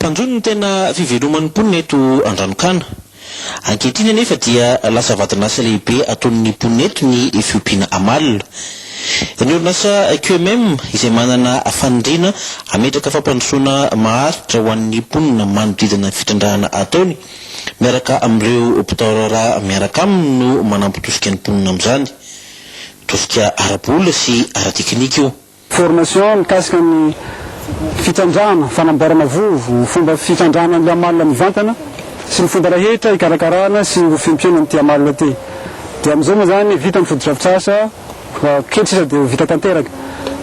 Mpanjono ny tena fiveloman'ny mponina eto Andranokana. Ankehitriny anefa dia lasa vadin'asa lehibe ataon'ny mponina eto ny fiompiana amalona. Ny orinasa QMM izay manana faniriana hametraka fampandrosoana maharitra ho an'ny mponina manodidina ny fitrandrahana ataony miaraka amin'ireo mpitaorara miaraka aminy no manampy tosika ny mponina amin'izany. Tosika ara-bola sy ara-teknika io. Formation mikasika ny fitrandrahana, fanamboarana vovo, ny fomba fitrandrahana ny amalona mivantana sy ny fomba rahetra hikarakarana sy ho fiompiana an'ity amalona ity. Dia amin'izao moa izany vita ny fotodrafitrasa, kely sisa dia ho vita tanteraka.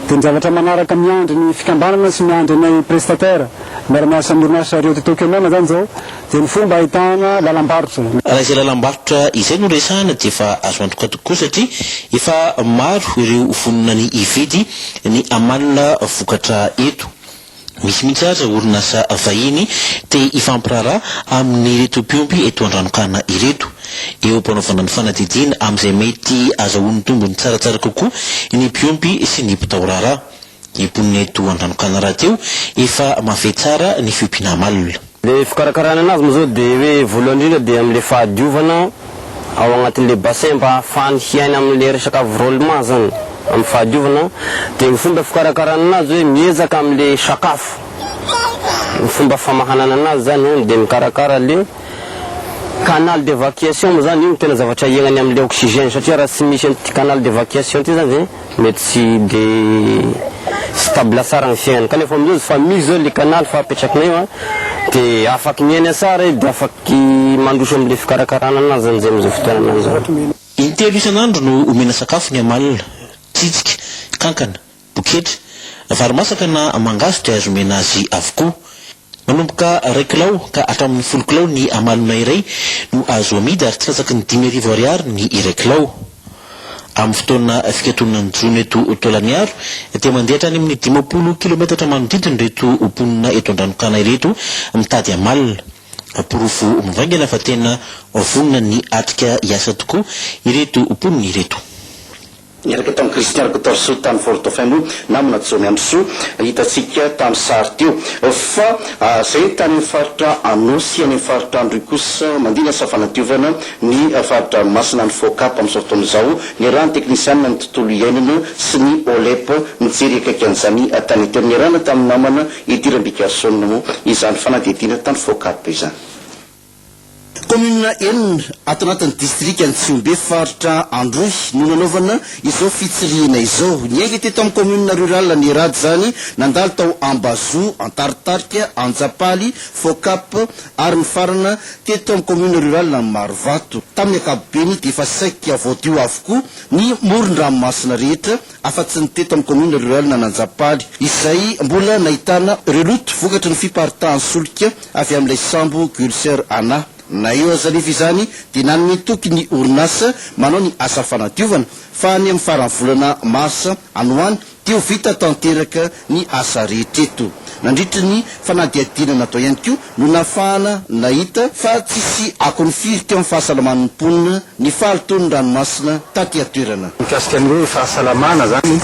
Dia ny zavatra manaraka miandry ny fikambanana sy miandry anay prestataires miara-miasa amin'ny orinasa Rio Tinto Kenana izany izao, Dia ny fomba ahitana lalam-barotra. Raha izay lalam-barotra izay no resahana dia efa azo antoka tokoa satria efa maro ireo vonona ny hividy ny amalona vokatra eto. Misy mihitsy aza orinasa vahiny te hifampiraharaha amin'ireto mpiompy eto Andranonkana ireto. Eo am-panaovana ny fanadihadiana amin'izay mety azahoany tombony tsaratsara kokoa ny mpiompy sy ny mpitao raharaha. Ny mponina eto Andranokanana rahateo efa mahafehy tsara ny fiompiana amalona. Le fikarakarana anazy moa zao de hoe voalohany indrindra de amle fahadiovana ao agnatinle bassin mba ahafahany hiaina amle resaka avrondement zany am fahadiovana de ny fomba fikarakarana anazy hoe miezaka amle sakafo ny fomba famahanana anazy zany an de mikarakara le canal d'evacuation moa zany io no tena zavatra iainany amle oxygène satria raha tsy misy anty canal d'evacuation ty zany de Mety tsy de stable tsara ny fiainany kanefa amin'izao izy fa misy zao le canal fa apetrakina eo an, de afaky miaina tsara izy de afaky mandroso amle fikarakarana anazy zany zay amzao fotoanana zao. Intelo isan'andro no omena sakafo ny amalona, tsitsika, kankana, boketra, vary masaka na mangahazo dia azo omena azy avokoa. Manomboka iray kilao ka hatramin'ny folo kilao ny amalona iray no azo amidy ary tsy latsaky ny dimy arivo ariary ny iray kilao. Amin'ny fotoana fikatonan'ny jono eto Tolagnaro dia mandeha hatrany amin'ny dimampolo kilometatra manodidina ireto mponina eto Andranokana ireto mitady amalona. Porofo mivaingana fa tena vonona ny hatrika hiasa tokoa ireto mponina ireto. Niaraka tamin'i Christian Rktorsu tany Fort Dauphin moa namana Jaomiandrisoa hitantsika tamin'ny sary teo. Fa izay tany amin'ny faritra Anôsy, any amin'ny faritra Androy kosa mandingana sy fanadiovana ny fari-dranomasina any Focap amin'izao fotoana izao. Niarahan'ny teknisianina ny tontolo iainana sy ny OLEP nijery akaiky an'izany tany teo. Niarahana tamin'ny namana Eddy Rambigarson moa izany fanadihadiana tany Focap izany. Kaominina enina ato anatin'ny distrikan'i Tsihombe faritra Androy no nanaovana izao fitsirihina izao. Niainga teto amin'ny kaominina rurale ny rad izany, nandalo tao Ambazoa, Antaritarika, Antsapaly, Focap ary nifarana teto amin'ny kaominina rurale Marovato. Tamin'ny ankapobeny dia efa saika voadio avokoa ny moron-dranomasina rehetra. afa-tsy ny teto amin'ny kaominina rurale an'Anjapaly, izay mbola nahitana ireo loto vokatry ny fiparitahan'ny solika avy amin'ilay sambo Gulser Ana. Na eo aza anefa izany dia nanome toky ny orinasa manao ny asa fanadiovana fa any amin'ny faran'ny volana marsa any ho any dia ho vita tanteraka ny asa rehetra eto. Nandritry ny fanadihadiana natao ihany koa no nafahana nahita fa tsisy akony firy teo amin'ny fahasalaman'ny mponina ny fahalotoan'ny ranomasina taty an-toerana. Mikasika ny hoe fahasalamana izany,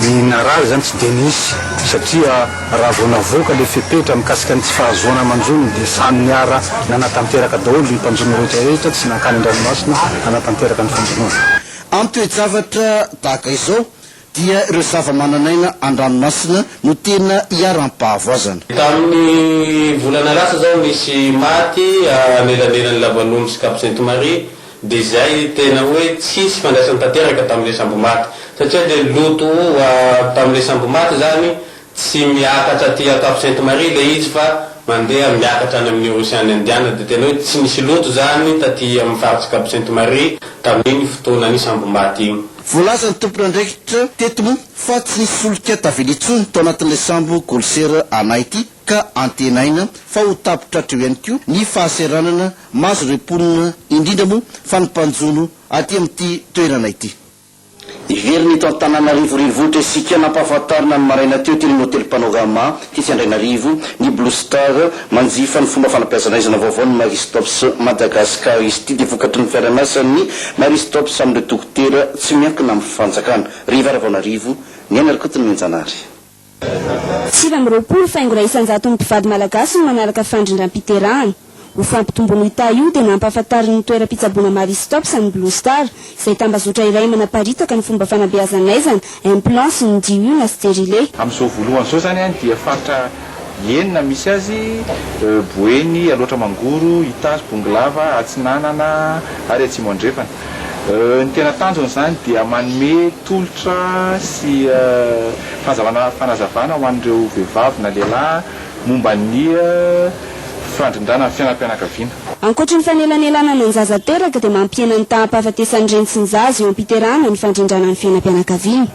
i Naral izany tsy dia nisy satria raha vao navoaka ilay fepetra mikasika ny tsy fahazoana manjono dia samy niara nanatanteraka daholo ny mpanjono rehetra rehetra tsy nankany an-dranomasina nanatanteraka ny fanjonoana. Amin'ny toe-javatra tahaka izao, dia ireo zavamananaina an-dranomasina no tena iharam-pahavoazana. Tamin'ny volana lasa izao nisy maty anelanelan'ny lavan'omby sy cap sainte Marie dia izay tena hoe tsisy ifandraisany tanteraka tamin'ilay sambo maty satria dia loto tamin'ilay sambo maty izany Tsy miakatra aty an-tampon Sainte Marie ilay izy fa mandeha miakatra any amin'ny Ocean Indian dia tena hoe tsy nisy loto izany taty amin'ny faritry Cap Sainte Marie tamin'iny fotoanan'ny sambom-bato iny. Voalaza ny tompon'andraikitra teto moa fa tsy nisy solika tavela intsony tao anatin'ilay sambo Golser Ana ity ka antenaina fa ho tapitra hatreo ihany koa ny fahasahiranana mahazo ireo mponina indrindra moa fa ny mpanjono aty amin'ity toerana ity. Hiverina eto Antananarivo Renivohitra isika. Nampahafantarina ny maraina teo teny amin'ny hotely Panorama, tetsy Andrainarivo, ny Blue Star. Manjifa ny fomba fanabeazana aizina vaovao ny Marie Stopes Madagascar. Izy ity dia vokatry ny fiara-miasan'ny Marie Stopes amin'ireo dokotera tsy miankina amin'ny fanjakana. Revy Haravaonarivo, Niaina Rakotonimbenjanahary. Sivy amby roapolo faingo iray isan-jaton'ny mpivady malagasy no manaraka fandrindram-piterahana. Ho fampitomboan'io taha io dia nampahafantarin'ny toeram-pitsaboana Marie Stopes an'ny Blue Star, izay tambazotra iray manaparitaka ny fomba fanabeazan'aizana, implants sy ny DU na sterilet. Amin'izao voalohany izao izany dia faritra enina misy azy, Boeny, Alaotra Mangoro, Itasy, Bongolava, Atsinanana ary Atsimo Andrefana. Ny tena tanjony izany dia manome. Tolotra sy fanazavana fanazavana ho an'ireo vehivavy na lehilahy momba ny fandrindrana ny fiainam-pianakaviana. Ankoatry ny fanelanelanana ny zaza teraka dia mampihena ny taham-pahafatesan'ny reny sy ny zaza eo am-piterahana ny fandrindrana ny fiainam-pianakaviana.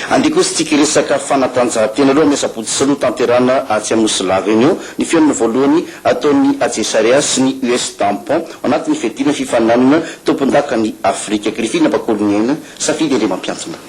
Andeha kosa tsika hiresaka fanatanjahantena aloha ny asabotsy sy roa tanterahana atsy amin'ny nosy lava eny eo ny fihaonana voalohany ataon'ny Ajesaria sy ny US Tampon ao anatin'ny fiadiana ny fifaninanana tompondaka ny Afrika. Grifina Bakoliniaina, Safidy Andriamampiantona.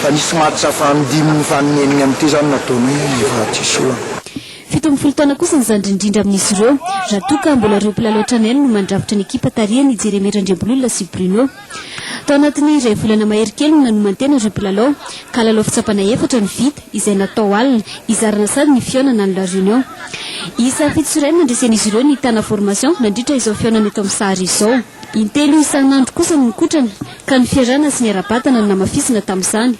Fa nisy match fahandimin'ny fahaneniny amin'ity izany nataonay rehefa tsy esorina. Fito amby folo taona kosa ny zandriny indrindra amin'izy ireo, raha toa ka mbola ireo mpilalao hatrany any no mandrafitra ny ekipa tarihan'i Jeremie Randriambolola sy Bruno. Tao anatin'ny iray volana mahery kely no nanomantena ireo mpilalao, ka lalao fitsapana efatra no vita, izay natao alina, hizarana sady ny fihaonana any La Réunion. Isa fito sy iray no nandresen'izy ireo ny Tana Formation nandritra izao fihaonana eto amin'ny sary izao. Intelo isan'andro kosa no nikotrana, ka ny fiarahana sy ny ara-batana no namafisina tamin'izany.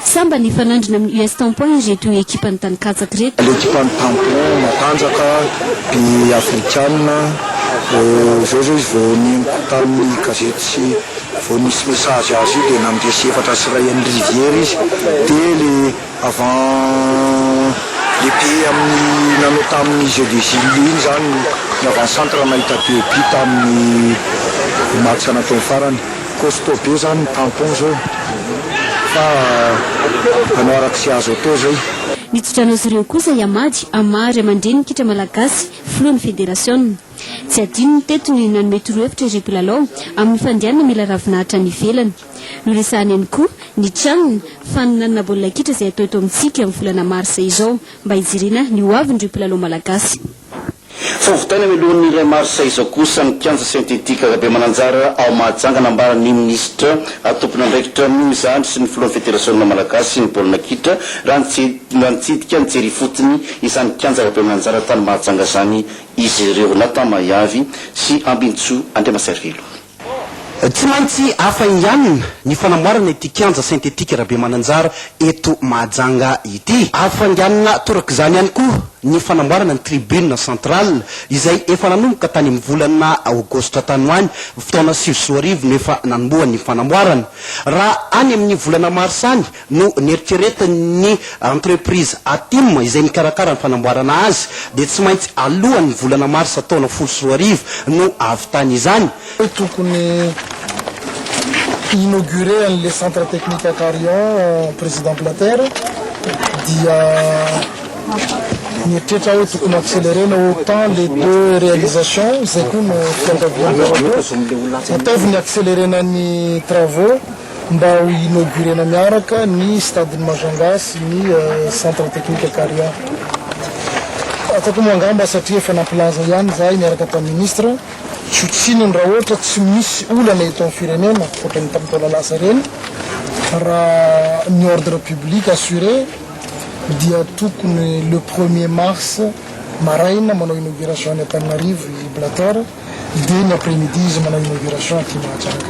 Sambany hifanandrina amin'ny US Tampon ireto ekipan'ny tany katsaka ireto. Ekipan'ny Tampon matanjaka, be Afrikana, izao izao izy vao neniko tamin'ny gazety sy vao nisy message azy io dia nandresy efatra sy iray an'ny riviera izy dia ilay Avant lehibe amin'ny nanao tamin'ny jeux des îles iny izany ny avant centre nahita Diopi tamin'ny match nataony farany. Costaud be izany ny tampon izao fa hanao araka izay azo atao izay. Ny tso-drano azy ireo kosa hihamady amin'ny maha ray aman-drenin'ny kitra malagasy, filohan'ny federasiona. Tsy adinony teto ny nanome torohevitra ireo mpilalao amin'ny fandehanana mila ravinahitra any ivelany. Noresahany ihany koa ny tranony fanonanana baolina kitra izay hatao eto amintsika amin'ny volana marsa izao mba hijerena ny ho avin'ireo mpilalao malagasy. Vao vitaina mialohan'ny iray marsa izao kosa ny kianja sentetika Rabemananjara ao Mahajanga nambaran' ny minisitra tompon'andraikitra izany sy ny filohan'ny federasionina malagasy ny baolina kitra raha nitsidika nijery ifotony izany kianja Rabemananjara tany Mahajanga izany izy ireo. Nathan Mahiavy sy Ambinintsoa Andriamaservelo. Tsy maintsy hafainganina ny fanamboarana ity kianja sentetika Rabemananjara eto Mahajanga ity. Hafainganina torak'izany ihany koa ny fanamboarana ny tribune centrale izay efa nanomboka tany amin'ny volana aogositra tany ho any taona sivy sy roa arivo no efa nanombohany ny fanamboarana. Raha any amin'ny volana marsa any no neritreretin' ny entreprise Atim izay mikarakara ny fanamboarana azy dia tsy maintsy alohan' ny volana marsa taona folo sy roa arivo no ahavitany izany. hoe tokony hi-inaugurer an'ilay centre technique à Carion Président Blatter dia nieritreritra aho hoe tokony ho-accélérer-na autant les deux réalisations, izay koa no fiangaviam-baovao, ataovy ny accélérer-na ny travaux. mba ho inaugurena miaraka ny stade-n'i Majanga sy ny centre technique Karia. Afaka moa angamba satria efa nampilaza ihany izahay niaraka tamin'ny ministra, tsy ho tsininy raha ohatra tsy misy olana eto amin'ny firenena ohatra ny tamin'ny taona lasa ireny, raha ny ordre public assuré dia tokony le premier mars maraina manao inauguration any Antananarivo i Blatter dia ny après-midi izy manao inauguration aty Mahajanga.